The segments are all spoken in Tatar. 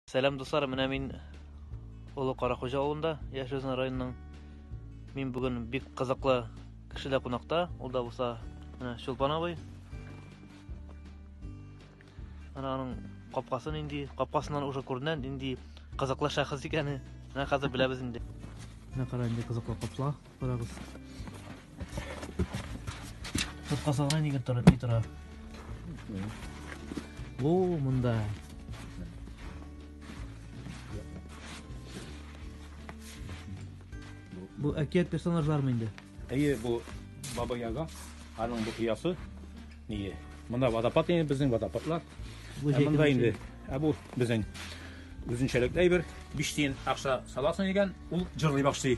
Сәлам дуслар, менә мин Олы Карахуҗа авылында яшәүзен районның. Мин бүген бик кызыклы кешедә кунакта, ул да булса менә Чулпан абый. Ана аның капкасы нинди, капкасыннан уже күренә нинди кызыклы шәхес икәне. Менә хәзер беләбез инде. Менә кара инде кызыклы капла. Карагыз. Тотка салган егет тора, ни тора. О, монда. Бу әкият персонажлармы инде? Әйе, бу Баба Яга, аның бу кыясы. Ние? Монда водопад инде безнең водопадлар. Бу ә монда инде. Ә бу безнең Үзенчәлекле әйбер, биш тиен акча саласың икән, ул җырлый башлый.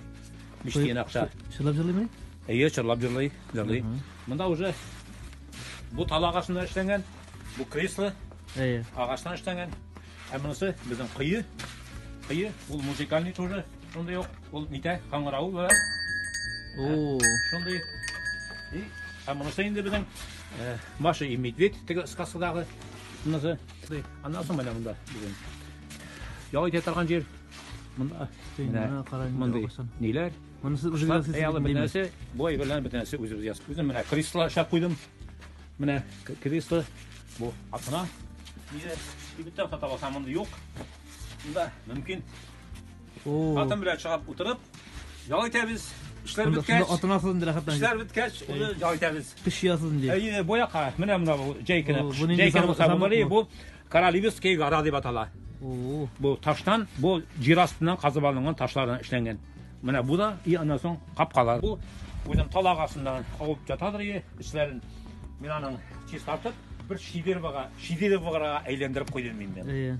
Биш тиен акча. Чырлап җырлыймы? Әйе, чырлап җырлый, җырлый. Монда уже бу тал агачыннан эшләнгән, бу кресло Әйе. агачтан эшләнгән. Ә монысы безнең кое. Кое, ул музыкальный тоже, шундый ук, ул митә, каңгырау ва О, шундый. И, ә монысы инде безнең э, Маша и медведь теге сказкадагы монысы. Аннан соң менә монда бүген. Ял итә торган җир. Монда мондый ниләр? Монысы үзегез ясыйсыз. Бөтенесе бой белән бөтенесе үзебез ясап. Үзем менә кресло аша куйдым. Менә кресло бу атына. Ниләр? Кибеттә сата алсам монда юк. Монда мөмкин Хатын белән чыгып утырып, ял итәбез. Эшләр беткәч, атынасыз инде рәхәтләнеп. Эшләр беткәч, аны ял итәбез. Кыш ясыз инде. Әйе, бу якка, менә менә бу җәйкене. Җәйкене булса бу бери, бу Каралибский гора дип атала. Бу таштан, бу җир астыннан казып алынган ташлардан эшләнгән. Менә бу да, и аннан соң капкалар. Бу үзем талак астыннан кабып ятадыр, и эшләрен. Мин аның чистартып, бер шидеровага, шидеровага әйләндереп куйдым инде. Әйе.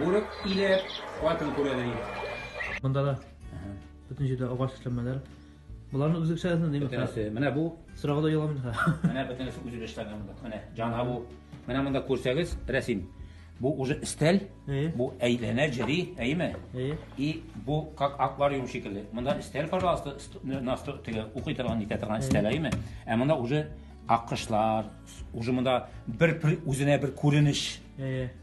Бүрек иләп, хатын күрәдер инде. Монда да бөтен җирдә агач эшләнмәләр. Боларны үзе эшләсен димме? Бөтенесе. Менә бу сырага да яламый да. Менә бөтенесе үзе эшләнгән монда. Менә җана бу. Менә монда күрсәгез, рәсем. Бу уже стель, бу әйләнә җири, әйме? И бу как аквариум шикелле. Монда стель, пожалуйста, нас теге укый торган, итә торган стель, әйме? Ә монда уже аккышлар, уже монда бер үзенә бер күренеш.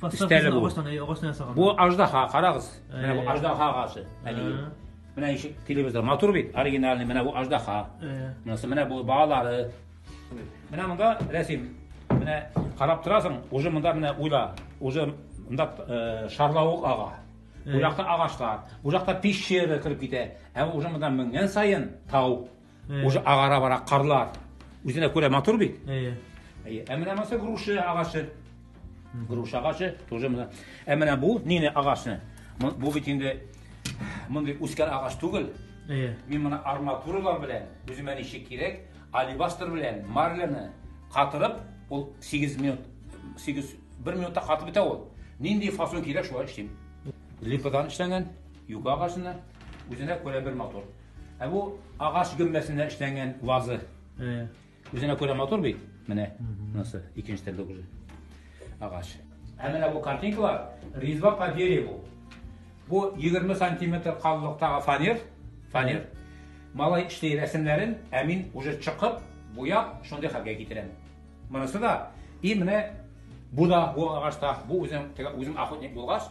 Подставкасын Стәле бу. агачтан, әй, агачтан ясаган. Бу аждаһа, карагыз. Менә бу Э. аждаһа агасы. Әле. Ә, Менә ишек телевизор матур бит, оригинальный. Менә бу аждаһа. ә. Монысы менә бу балалары. Менә монда рәсем. Менә карап торасың, уже монда менә уйла. Уже монда э, шарлавык ага. Бу Э. якта агачлар, бу якта пещера кереп китә. Ә уже монда менгән саен тау. Э. Уже агара бара карлар. Үзенә күрә матур бит. Әйе. Әйе. Ә менә маса груши агачы. Груши агачы тоже менә. Ә менә бу нине агачны? Бу бит инде мондый үскән агач түгел. Әйе. Мин моны арматуралар белән, үземә ничек кирәк, алибастр белән марляны катырып, ул 8 минут 8 1 минутта катып бетә ул. Нинди фасон кирәк шулай эшлим. Липадан эшләнгән, юка агачына үзенә күрә бер мотор. Ә бу агач гөмбәсенә эшләнгән вазы. Үзенә күрә матур бит. Менә монысы икенче төрле уже. Агач. Ә менә бу картинкалар резьба по дереву. Бу 20 сантиметр калынлыктагы фанер, фанер. Малай эшли рәсемнәрен, ә мин уже чыгып, буяп, шундый хәлгә китерәм. Монысы да и менә бу да бу агачта, бу үзем үзем охотник булгач,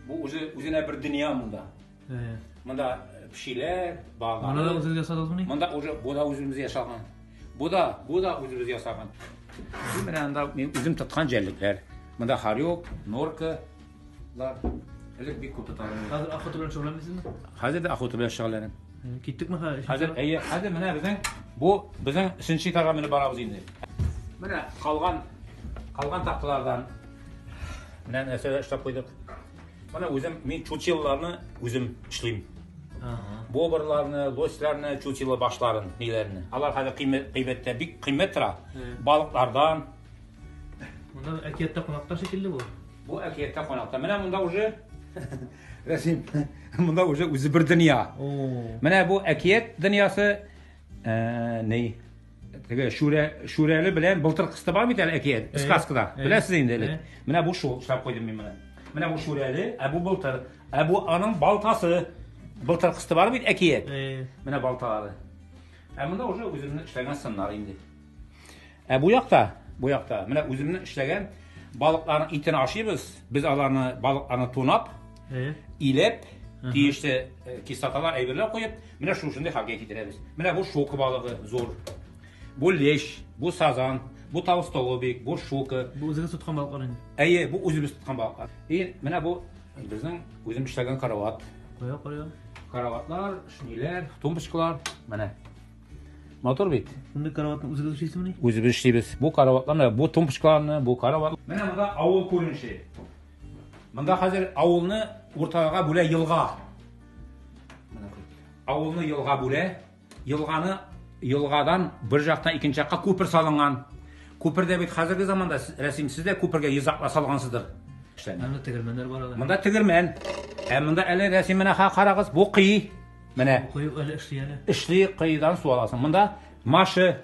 бу үзе үзенә бер дөнья монда. Әйе. Монда пешиләр, балалар. Монда да үзегез ясадыгызмыни? Монда уже бу да үзебез ясаган. Бу да, бу да үзебез ясаган. Бу менә анда мин үзем тоткан җәллекләр. Монда харек, норка, лар. Элек бик күп тоталар. Хәзер охота белән шөгыльләнмисезме? Хәзер дә охота белән шөгыльләнәм. Киттекме хәзер? Хәзер әйе, хәзер менә безнең бу безнең өченче этажга менеп барабыз инде. Менә калган калган такталардан менә нәрсәләр эшләп куйдык. Менә үзем мин чучелларны үзем эшлим. Бобрларны, лосларны, чучелла башларын, ниләрне. Алар хәзер кыйммәттә бик кыйммәт тора. Балыклардан. Монда әкияттә кунакта шикелле бу. Бу әкияттә кунакта. Менә монда уже Рәсим, монда уже үзе бер дөнья. Менә бу әкият дөньясы, э, ни, теге шүрә шүрәле белән былтыр кысты бар бит әле әкият сказкада беләсез инде элек менә бу шул эшләп куйдым мин менә менә бу шүрәле ә бу былтыр ә бу аның балтасы былтыр кысты бар бит әкият менә балталары ә монда уже үземнең эшләгән сыннар инде ә бу якта бу якта менә үземнең эшләгән балыкларның итен ашыйбыз без аларны балыкларны тунап илеп тиешле кислоталар әйберләр куеп Менә шушындый хәлгә китерәбез. Менә бу шука балыгы зур. Бу лещ, бу сазан, бу тавыз толыбик, бу шука. Бу үзегез тоткан балыклар инде. Әйе, бу үзебез тоткан балыклар. И менә бу безнең үзем эшләгән карават. Кая карая? Караватлар, шниләр, тумбочкалар, менә. Мотор бит. Менә караватны үзегез эшлисезмени? Үзебез эшлибез. Бу караватларны, бу тумбочкаларны, бу карават. Менә монда авыл күренеше. Монда хәзер авылны уртага бүлә елга. Авылны елга бүлә, елганы елгадан бер жактан икенче якка күпер салынган. Күпердә бит хәзерге заманда рәсим сез дә күпергә йозакла салгансыздыр. Монда тегермәннәр бар ала. Монда тегермән. Ә монда әле рәсим менә карагыз, бу кый. Менә. Кый әле эшли әле. Эшли кыйдан су аласың. Монда машы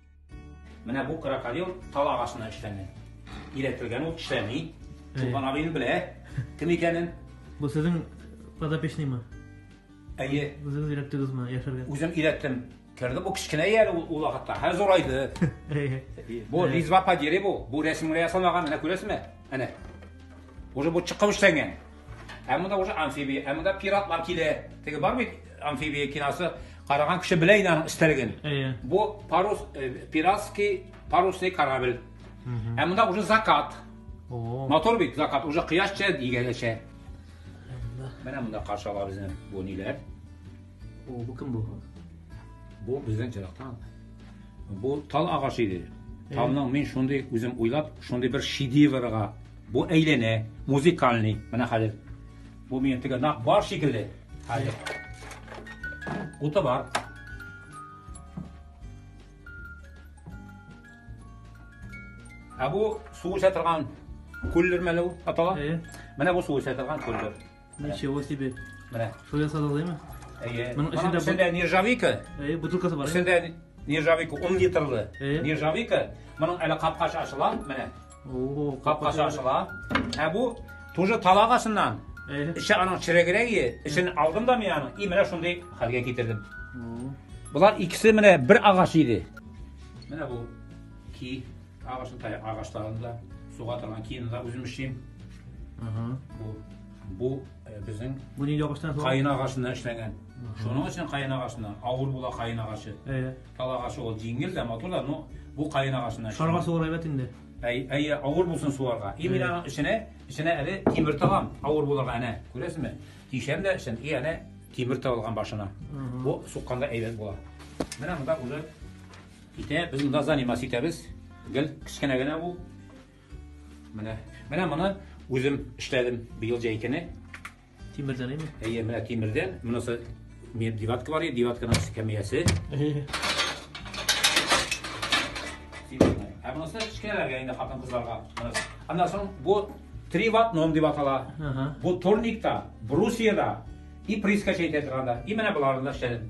Менә бу крокодил тал агачына эшләнгән. Иретелгән ул эшләми. Туган абыйны белә кем икәнен. Бу сезнең подопечныймы? Әйе. Үзегез өйрәттегезме яшәргә? Үзем өйрәттем. Керде бу кечкенә әле ул вакытта. Һәр зурайды. Бу резьба по дереву, бу рәсемгә ясалмаган, менә күрәсезме? Әнә. Уже бу чыккан эшләнгән. Ә монда уже амфибия, ә монда пиратлар килә. Теге бар бит амфибия киносы, караган кеше белә инде аның истәлеген. Әйе. Бу парус э, пиратский парусный корабль. Ә монда уже закат. О. Мотор бит закат, уже кояш чә дигәнчә. Менә монда каршы ала безне бу ниләр? О, бу кем бу? Бу безнең җырактан. Бу тал агачы иде. Э. Талның мин шундый үзем уйлап, шундый бер шедеврга Бу әйләнә, музыкальный. Менә хәзер. Бу минем теге нак бар шикелле. Хәзер. Уты бар. Ә бу су эчә торган күллер мәле ул атала. Менә бу су эчә торган күллер. Ничего себе. Менә. Шул ясады алаймы? Әйе. Моның эчендә бу- Эчендә нержавейка. Әйе, бутылкасы бар. Эчендә нержавейка 10 литрлы. Әйе. Нержавейка. Моның әле капкасы ачыла, менә. О, Капкасы ачыла. Ә бу тоже талагасыннан. Әйе. Эче аның чирегрәге, эчен алдым да мин аның, и менә шундый хәлгә китердем. О. Болар икесе менә бер агач иде. Менә бу ки Агачны таяк агачларын да, суга торган киемне дә үзем эшлим. Бу бу э, безнең Бу нинди агачтан? Каен агачыннан эшләнгән. Шуның өчен каен агачына авыр була каен агачы. Әйе. Тал агачы ул җиңел дә, матур да, но бу каен агачына. Шарга сугар әйбәт инде. Әй, әй, авыр булсын суарга. И мин аның эченә, эченә әле тимер тагам, авыр булырга әнә. Күрәсезме? Тишәм дә эчен, и әнә тимер тагылган башына. Бу сукканда әйбәт була. Менә монда уже Китә, без монда занимас итәбез. Гел кечкенә генә ул. Менә, менә моны үзем эшләдем быел җәйкене. Тимердән әйме? Әйе, менә тимердән. Монысы меб диватка бар, диватканың эскәмиясе. Ә монысы кечкенәләргә инде хатын кызларга. Аннан соң бу три ватт ном дип атала. Бу турникта, брусьеда и прискача итә торганда. И менә боларны эшләдем.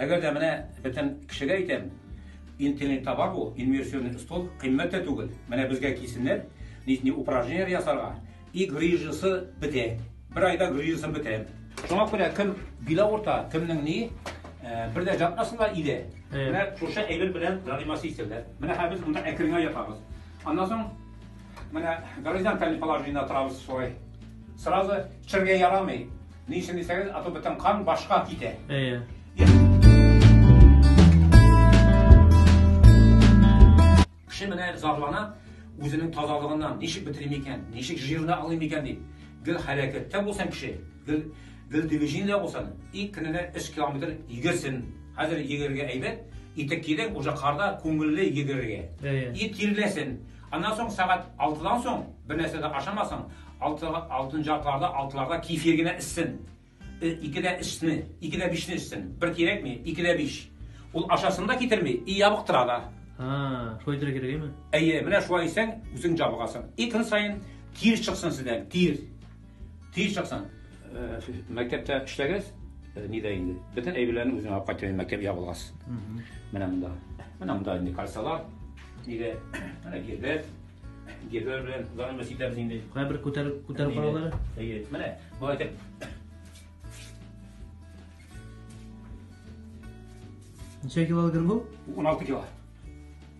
Әгәр дә менә бөтен кешегә әйтәм, интернетта бар бу инверсионный стол, кыйммәт тә түгел. Менә безгә килсеннәр, нитни упражнениеләр ясарга. И грыжасы бетә. Бер айда грыжасын бетә. Шуңа күрә кем билә урта, кемнең ни, э, бер дә ятмасыннар иле. Менә шушы әйбер белән заниматься итсәләр. Менә хәзер без монда әкренләп ятабыз. Аннан соң Менә горизонталь положениедә торабыз шулай. Сразу чергә ярамый. Ни өчен дисәгез, а то бөтен кан башка китә. Әйе. Кеше менә зарлана үзенең тазалыгыннан, ничек бетерим икән, ничек жирны алыйм икән дип. Гел хәрәкәттә булсын кеше, гел гел движениедә булсын, и көненә 3 километр йөгерсен. Хәзер йөгергә әйбәт, итек кидең, уже карда күңелле йөгергә. И тирләсен. Аннан соң сәгать алтыдан соң бернәрсә дә ашамасын, алты, алтынчы атларда, алтыларда кефир генә эчсен. Э, ике дә эчне, ике дә бишне эчсен. Бер кирәкми, ике дә биш. Ул ашасын да китерми, и ябыктыра да. Ха, шулай итәргә кирәкме? Әйе, менә шулай исән, үзең җабыгасың. И көн саен тир чыксын сездән, тир. Тиз чыксын. Э, мәктәптә эшләгәз, э, нидә инде. Бөтен әйберләрне үзеңә алып кайтып мәктәп ябылгас. Менә монда. Менә монда инде кальсалар. Нидә? Менә гербет. Гербет белән занымыз итәбез инде. Кая бер күтәреп күтәреп алалар. Әйе. Менә бу әйтеп Ничә килограмм бу? 16 килограмм.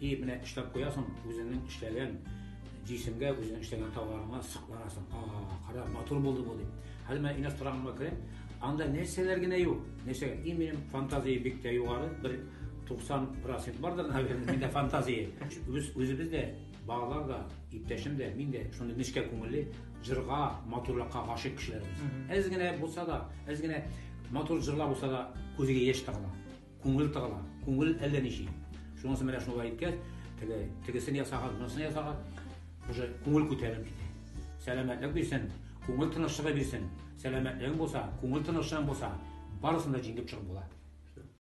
И менә эшләп куясың үзеңнең эшләгән җисемгә үзеңнең эшләгән товарыңа сокланасың а кара матур булды бу дип хәзер менә инеш торагыма керәм анда нәрсәләр генә юк нәрсәгә и минем фантазия бик тә югары бер туксан процент бардыр наверное миндә фантазия без үзебез дә балалар да иптәшем дә мин дә шундый нечкә күңелле җырга матурлыкка гашыйк кешеләрбез әз генә булса да әз генә матур җырлар булса да күзгә яшь тыгыла Күңел тыгыла, күңел әллә ничи. Шунысы менә шулай иткән, теге тегесен ясаган, монысын ясаган, уже күңел күтәрелеп китә. Сәламәтлек бирсен, күңел тынычлыгы бирсен. Сәламәтлегең булса, күңел тынычлыгың булса, барысын да җиңеп чыгып була.